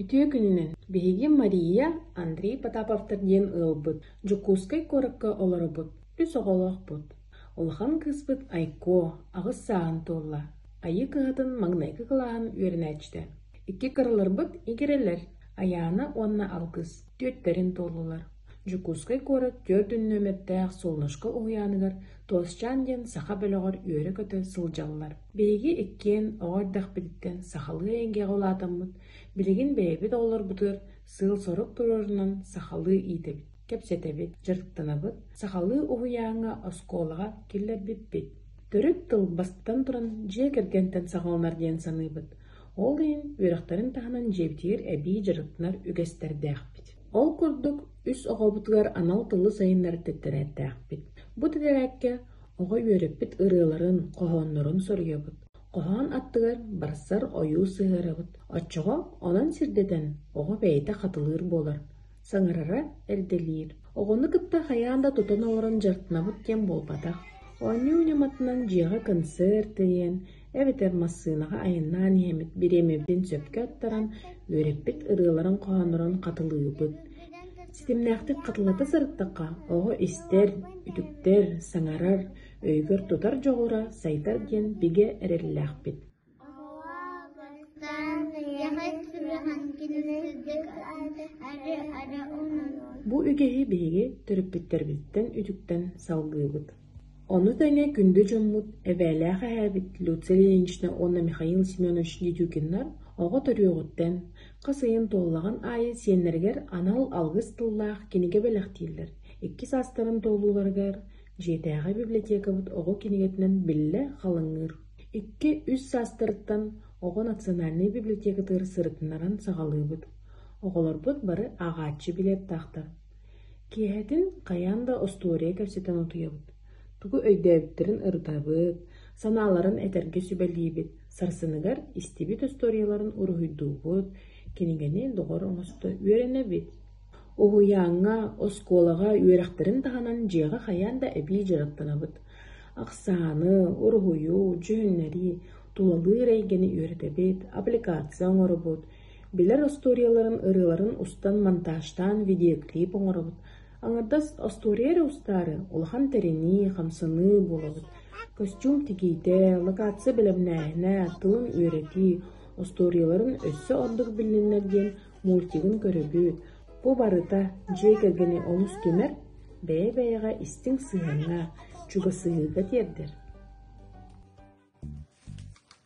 Үтүө күнүнэн! Биһиги Мария, Андрей Потаповтар диэн ыалбыт, Дьокуускай куоракка олоробут, үс оҕолоохпут. Улахан кыыспыт Айко аҕыс сааһын туолла. Айыы кыһатын маҥнайгы кылааһын үөрэнээччитэ. Икки кыраларбыт игирэлэр Айаана уонна алгыс. Түөттэрин туоллулар. Дьокуускай куорат түөрт нүөмэрдээх Солнышко уһуйааныгар Толсчаан диэн саха бөлөҕөр үөрэ-көтө сылдьаллар. Биһиги иккиэн оҕо эрдэхпититтэн сахалыы эйгэҕэ улаатаммыт, билигин бэйэбит оҕолорбутугар сыал-сорук туруорунан сахалыы иитэбит, кэпсэтэбит, дьарыктанабыт, сахалыы уһуйааҥҥа, оскуолаҕа киллэрбиппит. Төрүт тыл бастатан туран дьиэ кэргэнтэн саҕаланар диэн саныыбыт. Ол иһин үөрэхтэрин таһынан дьиэбитигэр эбии дьарыктанар үгэстэрдээхпит. Ол курдук, үс оҕобутугар анал тылы сайыннарар тэптэрээттээхпит. Бу тэтэрээккэ оҕо үөрэппит ырыаларын, хоһооннорун соруйабыт. Хоһоон аттыгар барсар ойуу сыһыарабыт. Оччоҕо онон сирдэтэн оҕо бэйэтэ хатылыыр буолар, саҥарара эрдэлиир. Оҕону кытта хайаан да тутан олорон дьарыктанабыт диэн буолбатах. Оонньуу ньыматынан дьиэҕэ концерт тириэн, эбэтэр массыынаҕа айаннаан иһэммит бириэмэбитин сөпкө аттаран, үөрэппит ырыаларын хоһооннорун хатылыыбыт. Ситимнээхтик хатылата сырыттахха, оҕо истэр, үтүктэр, саҥарар, өйүгэр тутар дьоҕура сайдар диэн бигэ эрэллээхпит. Бу үгэһи биһиги төрөппүттэрбиттэн үтүктэн салгыыбыт. Ону тэҥэ күндү дьоммут, эбээлээх эһээбит Люция Ильинична уонна Михаил Семенович Дедюкиннар оҕо төрүөҕүттэн, хас ыйын туоллаҕын аайы сиэннэригэр анал алгыс тыллаах кинигэ бэлэхтииллэр, икки саастарын туолууларыгар дьиэтээҕи библиотекабыт оҕо кинигэтинэн биллэ халыҥыыр, икки-үс саастарыттан оҕо национальнай библиотекатыгар сырытыннаран саҕалыыбыт. Оҕолорбут бары ааҕааччы билиэттаахтар. Киэһэтин хайаан да остуоруйа кэпсэтэн утуйабыт, тугу өйдөөбүттэрин ырытабыт, санааларын этэргэ сүбэлиибит, сарсыныгар истибит остуоруйаларын уруһуйдуубут, кинигэни доҕор оҥосто үөрэнэбит. Уһуйааҥҥа, оскуолаҕа үөрэхтэрин таһынан дьиэҕэ хайаан да эбии дьарыктанабыт. Ахсааны, уруһуйу, дьүһүннэрии, тулалыыр эйгэни үөрэтэбит, аппликация оҥоробут, Билэр остуоруйаларын ырыаларын устан монтажтаан видеоклип оҥоробут, аҥардас остуоруйа эрэ устаары улахан тэринии, хамсаныы буолабыт. Көстүүм тигиитэ, локация бэлэмнээһинэ, тылын үөрэтии, остуоруйаларын өссө ордук билиннэр диэн мультигын көрөбүт. Бу барыта дьиэ кэргэни олус түмэр, бэйэ-бэйэҕэ истиҥ сыһыаҥҥа, чугасыһыыга тиэрдэр.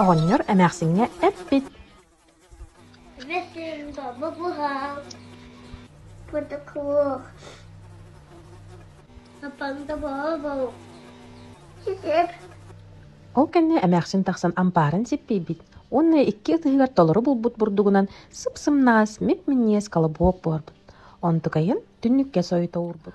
Оҕонньор эмээхсиҥҥэ эппит Ол кэннэ эмээхсин тахсан ампаарын сиппийбит уонна икки ытыһыгар толору булбут бурдугунан сып-сымнаҕас мип-минньиэс колобок буолбут. Онтукайын түннүккэ сойута уурбут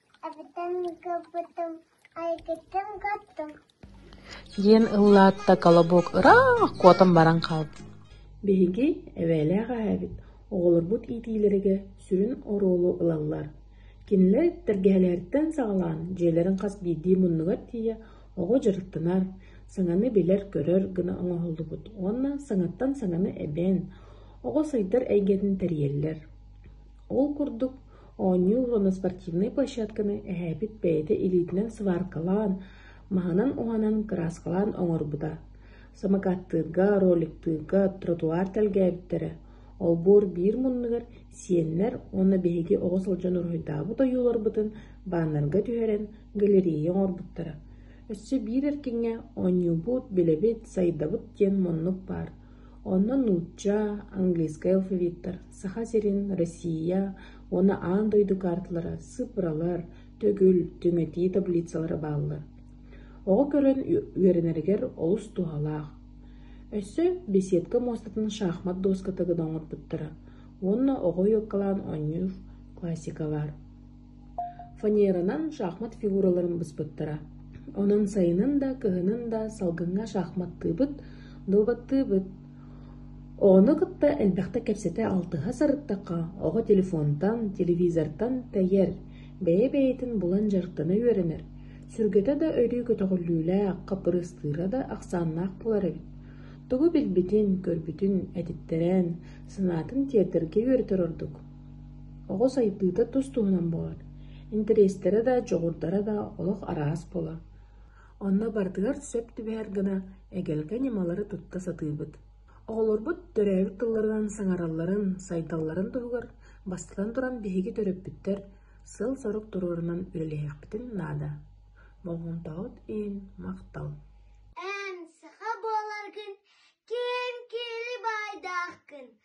диэн ыллаата Колобок ыраах куотан баран хаалбыт. Биһиги эбээлээх эһээбит оҕолорбут иитиилэригэр сүрүн оруолу ылаллар. Кинилэр тэлгэһэлэриттэн саҕалаан дьиэлэрин хас биирдии муннугар тиийэ оҕо дьарыктанар, саҥаны билэр-көрөр гына оҥоһуллубут уонна саҥаттан саҥаны эбээн, оҕо сайдар эйгэтин тэрийэллэр. Ол курдук, оонньуу уонна спортивнай площадканы эһээбит бэйэтэ илиитинэн сваркалаан, маһынан-уһанан кырааскалаан оҥорбута, самокаттыырга, роликтыырга тротуар тэлгээбиттэрэ, олбуор биир муннугар сиэннэр уонна биһиги оҕо сылдьан уруһуйдаабыт ойууларбытын бааннарга түһэрэн галерея оҥорбуттара. Өссө биир эркиҥҥэ оонньуубут, билэбит, сайдабыт диэн муннук баар Онно нуучча, английскай алфавиттар, Саха сирин, Россия уонна аан дойду каарталара, сыпралар, төгүл, түҥэтии таблицалара бааллар. Оҕо көрөн үөрэнэригэр олус туһалаах. Өссө беседка муостатын шахмат дуоската гына оҥорбуттара уонна оҕо ойуоккалаан оонньуур классикалар Фанеранан шахмат фигураларын быспыттара, онон сайынын да, кыһынын да салгыҥҥа шахматтыыбыт, дуобаттыыбыт. Оҕону кытта элбэхтик кэпсэтэ алтыһа сырыттахха, оҕо телефонтан, телевизортан тэйэр, бэйэ-бэйэтин булан дьарыктана үөрэнэр, сүргэтэ да өрүү көтөҕүллүүлээх, хаппырыыстыыра да ахсааннаах буолар эбит. Тугу билбитин, көрбүтүн этиттэрэн, санаатын тиэрдэргэ үөрэтэр ордук. Оҕо сайдыыта тус-туһунан буолар, интэриэстэрэ да, дьоҕурдара да олох араас буолар. Онно барытыгар сөп түбэһэр гына эгэлгэ ньымалары тутта сатыыбыт. Оҕолорбут төрөөбүт тылларынан саҥаралларын, сайдалларын туһугар бастатан туран биһиги төрөппүттэр сыал-сорук туруорунан үлэлэһиэхпитин наада. Болҕомтоҕут иһин махтал. Эн саха буоларгын ким киһи баайдаахкын